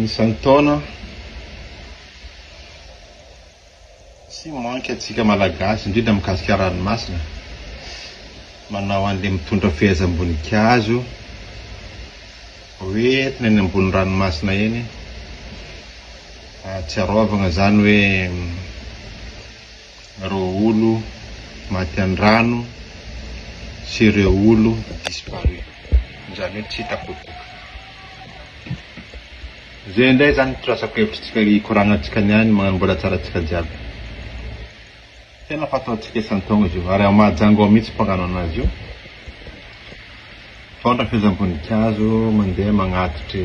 Izany taona tsy manky antsika Malagasy indrindra mikasika ranomasina manao an'ilay mitondra fehezam-boninkazo hoentina eny ambony ranomasina eny ahatsiarovana izany hoe Ireo olo maty andrano sy ireo olo disparu izany hoe tsy hita popoka. Zay indray zany fitrasako hevitry tsika hikoragna tsika niany magnano mbola tsara tsika jiaby. Tena fatao tsika isan taogno zio ary ao Mahajango ao mitsy mpagnano anazy io. Fôndra fehezam-bonikazo mandeha magnatitry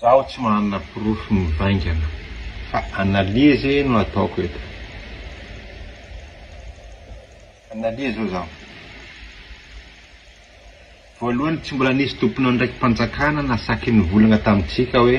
Zaho tsy manana porofo mivaingana fa analyse no ataoko eto. Analyse hoy zaho. Voalohany tsy mbola nisy tompon'andraiki-panjakana nasaky nivolagna tamintsika hoe.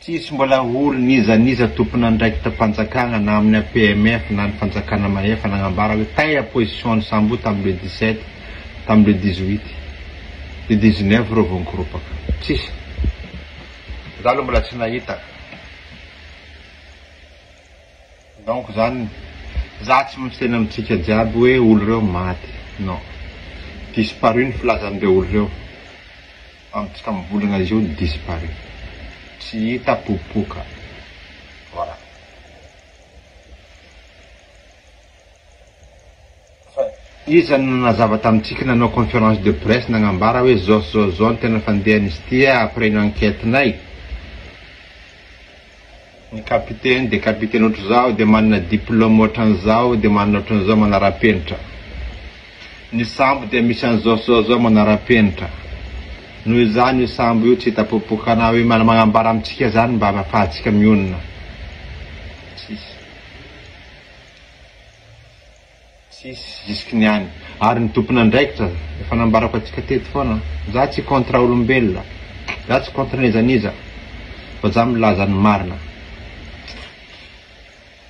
Tsisy mbola ory n'iza n'iza tompon'andraikitam-panjakana na amin'ny APMF na ny fanjakana mahefa nagnambara hoe taiha position an'i Sambo tamin'ny le dix sept, tamin'ny le dix huit, le dix neuf ireo vao nikoropaka. Tsisy. Za aloha mbola tsy nahita. Donc zany za tsy maintsy tena mitsika jiaby hoe olo reo maty non disparu ny filazan reo olo reo amitsika mivolagna izy io disparu tsy hita popoka voilà. Fa iza no nanazava tamintsika nanao conférence de presse nagnambara hoe zao sy zao sy zao ny tena fandehan'izy ity après ny enquête-nay? Ny capitaine dia capitaine ohatr'izao, dia manana diplôme ohatran'izao, dia manana ohatran'izao manara-penitra. Ny sambo dia misy an'izao sy zao sy zao manara-penitra. Noho izany io sambo io tsy hita popoka na hoe magnambara amintsika izany mba hahafahantsika mionona. Tsisy. Tsisy jusque ny any ary ny tompon'andraikitra efa nambarako antsika teto foana za tsy contre olombelona za tsy contre n'iza n'iza fa za milaza ny marina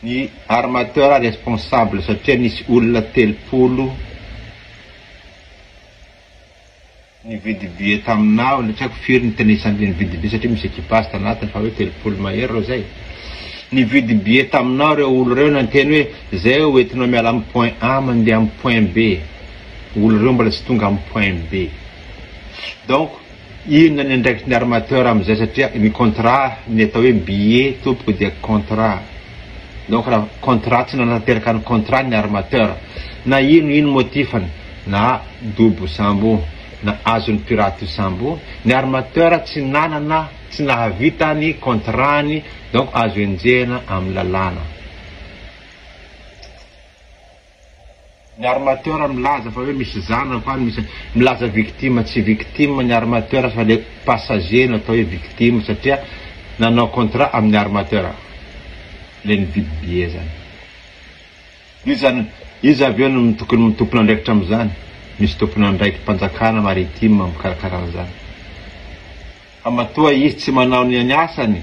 ny armateur responsable satria nisy olona telopolo Nividy billet taminao ilay tsy haiko firy nitanisany ilay nividy billet satria misy equipage tanatiny fa hoe telopolo mahery ireo izay. Nividy billet taminao ireo olo ireo nanteny hoe izay ho entinao miala amin'ny point A mandeha amin'ny point B. Olo ireo mbola tsy tonga amin'ny point B. Donc inona ny andraikitry ny armateur amin'izay satria ny contrat ny atao hoe billet tompoko dia contrat. Donc raha contrat tsy nanatanteraka ny contrat ny armateur na ino ino motif-ny. na dobo sambo na azon'ny pirate io sambo io, ny armateur tsy nanana tsy nahavita ny contrat-ny donc azo enjehina amin'ny lalàna. Ny armateur milaza fa hoe misy zanako any, misy milaza victime, tsy victime ny armateur fa le passager no atao hoe victime satria nanao contrat amin'ny armateur le nividy billet zany. Iza no iza avy eo no tokony ho tompon'andraikitra amin'izany? Misy tompon'andraiki-panjakana maritime mikarakara an'izany. Fa matoa izy tsy manao ny ny asany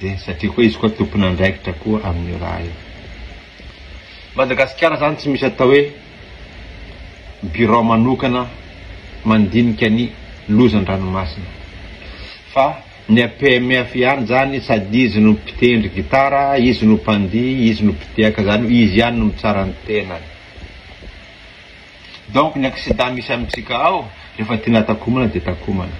dia satria koa izy koa tompon'andraikitra koa amin'io raha io. Madagasikara izany tsy misy atao hoe birao manokana mandinika ny loza an-dranomasina fa Ny APMF ihany zany sady izy no mpitendry gitara, izy no mpandihy, izy no mpitehaka zany hoe izy ihany no mitsara ny tenany. Donc ny accident misy amintsika ao rehefa tiana takomana dia takomana.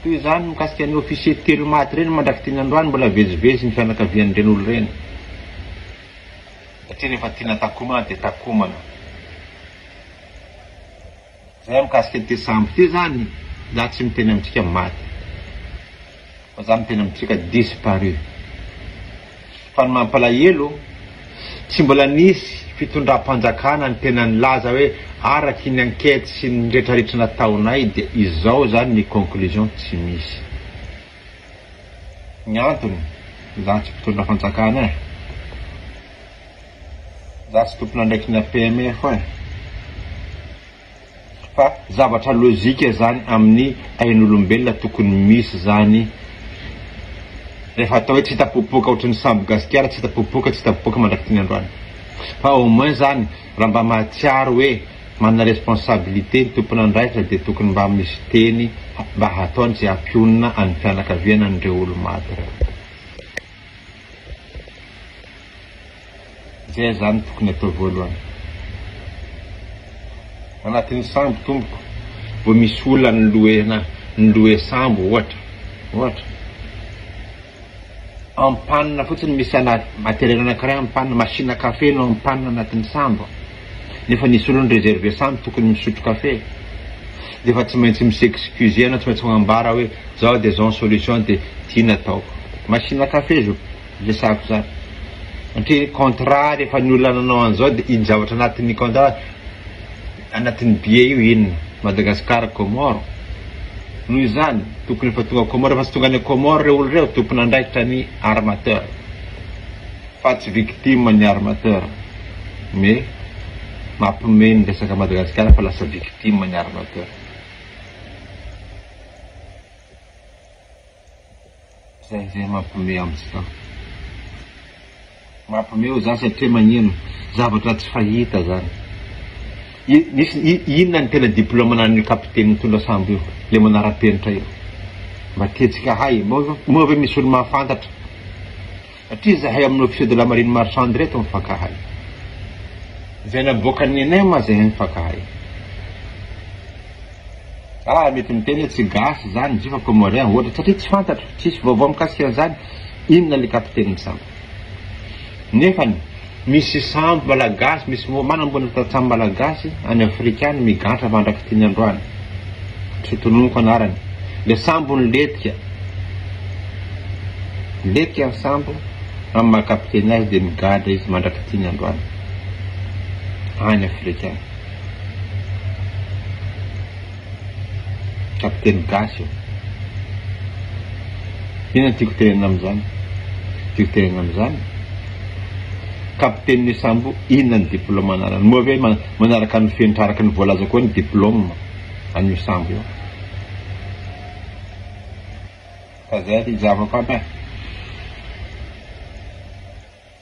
Toy izany mikasika ny officier telo maty ireny mandrak'itiny androany mbola vezivezy ny fianakavian'ireny olo ireny satria rehefa tiana takomana dia takomana. Zay mikasika ity sambo ity zany za tsy miteny amintsika maty fa za miteny amintsika disparu fa ny mampalahelo tsy mbola nisy fitondram-panjakana ny tena nilaza hoe araky ny enquete sy ny retraretra nataonay dia izao zany ny conclusion tsy misy ny antony za tsy mpitondra fanjakana eh. Za tsy tompon'andraikina PMF eh. Fa zavatra lojika zany amin'ny ain'olombelona tokony misy zany rehefa atao hoe tsy hita popoka ohatry ny sambo gasikara tsy hita popoka tsy hita popoka mandrak'ity ny androany fa au moins zany raha mba mahatsiaro hoe manana responsabilité ny tompon'andraikitra dia tokony mba misy teny mba hataony tsy hampionona an'ny fianakaviana an'ireo olo-maty ireo. Zay azany no tokony atao voalohany. Anatin'ny sambo tompoko vao misy olona noloena noloe sambo ohatra ohatra. En panne fotsiny misy ana matériel anankiray en panne, machine à café no en panne anatin'ny sambo. Nefa ny solony ry Gervais samy tokony misotro kafe dia efa tsy maintsy mi s'excuser na tsy maintsy manambara hoe zao dia zao ny solution dia ty no ataoko. Machine à café zo resahako zany satria contrat rehefa ny olona nanao an'izao dia iny zavatra anatin'ny contrat anatin'ny billet io inona? Madagascar Comore? Noho izany tokony efa tonga Comore efa tsy tonga any Comore ireo olona ireo tompon'andraikitra ny armateur. Fa tsy victime ny armateur mais mampme ny resaka Madagascar fa lasa victime ny armateur. Zay zay mampme antsika. Mampme o za satria magnino zavatra tsy fahita zany. Inona ny tena diploma ananio capitaine mitondra sambo io le manarapenitra io. Mba tiantsika hay. Moa ve misy olo mahafantatra. Satria zahay amin'ny officier de la marine marchande ireto mifankahay. Izay naboakan'ny NM aza ehe mifankahay. Aah mety miteny hoe tsy gasy izany ny jifa comorien ohatra satria tsy fantatro, tsisy vaovao mikasika an'izany, inona ilay kapitenin'ny sambo. Nefany. Misy sambo malagasy, misy moa manambola tantsaha malagasy any Afrika any migantra mandrak'ity ny androany. Tsy ho tononiko anarany. Le sambo niletika. Niletika ny sambo, amin'ny maha kapiteny azy dia migadra izy mandrak'ity ny androany. Any Afrika any. Kapiteny gasy ô! Inona no tiako tenenina amin'izany? Tiako tenenina amin'izany, Kapiteny Sambo inona ny diplôme ananany? Moa ve manaraka ny fenitra araka ny voalazako eo ny diplôme an'io Sambo io? Fa izay ry zava-ko an eh!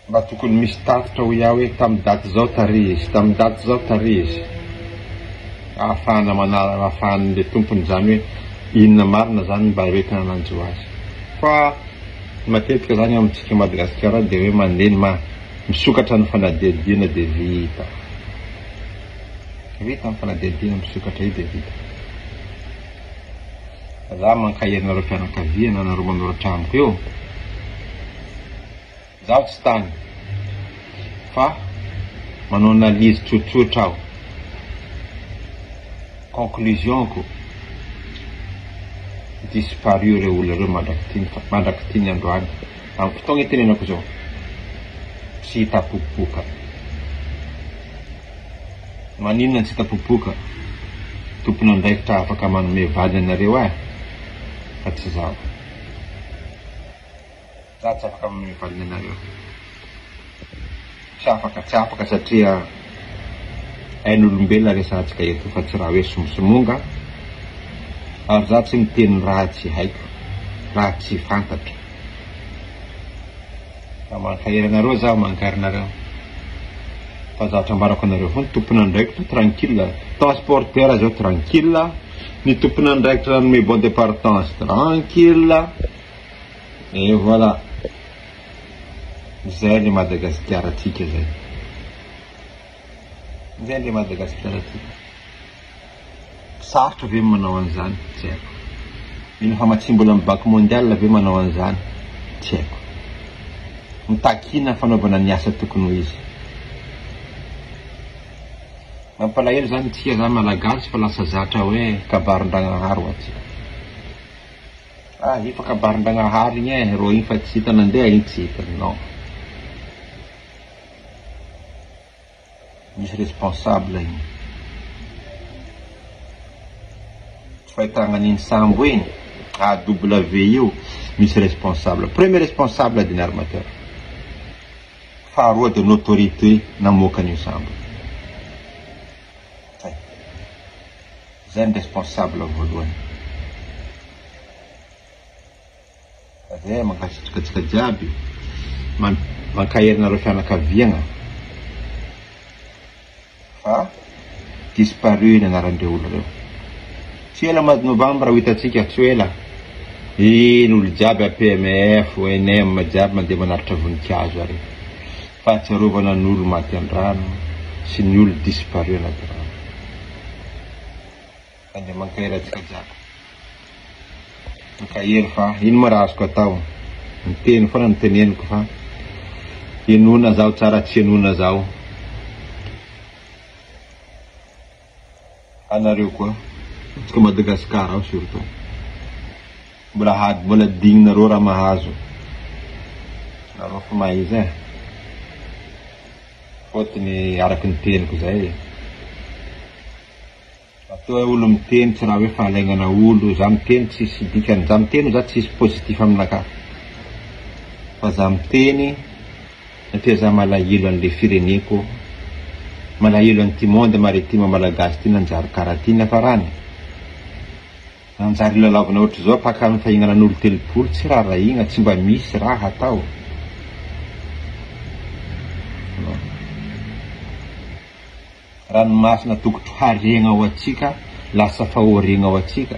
Mba tokony misy tatitra hoy aho hoe tamin'ny daty izao tarehy izy, tamin'ny daty izao tarehy izy. Ahafahana manala, ahafahan'ilay tompony izany hoe inona marina izany mba hoentina hanjo azy. Fa matetika izany amintsika Madagasikara dia hoe mandeha ny maha misokatra ny fanadihadiana dia vita. Vita ny fanadihadiana misokatra io dia vita. Za mankahery anareo fianakaviana anareo manoratra amiko eo. Izaho tsy tany fa manao analyse tsotsotra aho. Conclusion-ko, disparu ireo olona ireo mandrak'ity mandrak'ity ny androany. Amin'ny fotoagna itenenako izao, tsy hita popoka. Maninona no tsy hita popoka? Tompon'andraikitra afaka manome vady anareo ahy fa tsy izaho. Za tsy afaka amin'ny valianareo. Tsy afaka, tsy afaka satria ain'olombelona resahantsika eto fa tsy raha hoe somosomonga ary za tsy miteny raha tsy haiko, raha tsy fantatro. Fa mankahery anareo zaho, mankahery anareo fa zatra ambarako anareo foana, tompon'andraikitra tranquille, transporteur zao tranquille, ny tompon'andraikitra nanome bon de partance tranquille. Et voilà! Zay le Madagasikara tsika zay! Zay le Madagasikara tsika! Sarotra ve ny manao an'izany? Tsy haiko! Mila famatsiam-bolan'ny Banque Mondiale ve manao an'izany? Tsy haiko! Mitakiana fanaovana ny asa tokony ho izy! Mampalahelo zany tsika zany Malagasy fa lasa zatra hoe kabarin-dragnahary hoatsika! Ah efa kabarin-dragnahary igny eh rô igny fa tsy hita nandeha igny tsy hita non misy responsable igny tsy fahitagna an'igny sambo igny AW io misy responsable premier responsable ady ny armateur faharoa de ny autorité namoaka an'io sambo io. Zay ny responsable voalohany. Zay mankasitraka antsika jiaby mankahery nareo fianakaviagna fa disparu ny anaran-dreo olo reo tsy ela mois de novembre ho hitantsika tsy ho ela iny olo jiaby APMF, ONM jiaby mandeha manaritra vonikazo ary. Fahatsiarovana ny olo maty an-drano sy ny olo disparu anaty rano. Tandremo ankahery atsikajako. Ankahery fa ino ma ra azoko atao. Miteny foana no teneniko fa henoina zaho tsara tsy henoina zaho. Anareo koa atsika Madagascar ao surtout mbola hady mbola dignareo raha mahazo nareo fa mahaiza eh fotony araky ny teniko zay eh atoa eh olo miteny tsy raha hoe fahalaignana olo za miteny tsisy dikany za miteny za tsisy positif aminakahy fa za miteny Satria za malahelo anle fireneko malahelo anty monde maritime malagasy ty nanjary kara ty niafarany nanjary lalaovina ohatry zao paka am fahinana nolo telopolo tsy rarahina tsy mba misy raha hatao ranomasina tokotro hariagna ho atsika lasa fahoriagna ho atsika.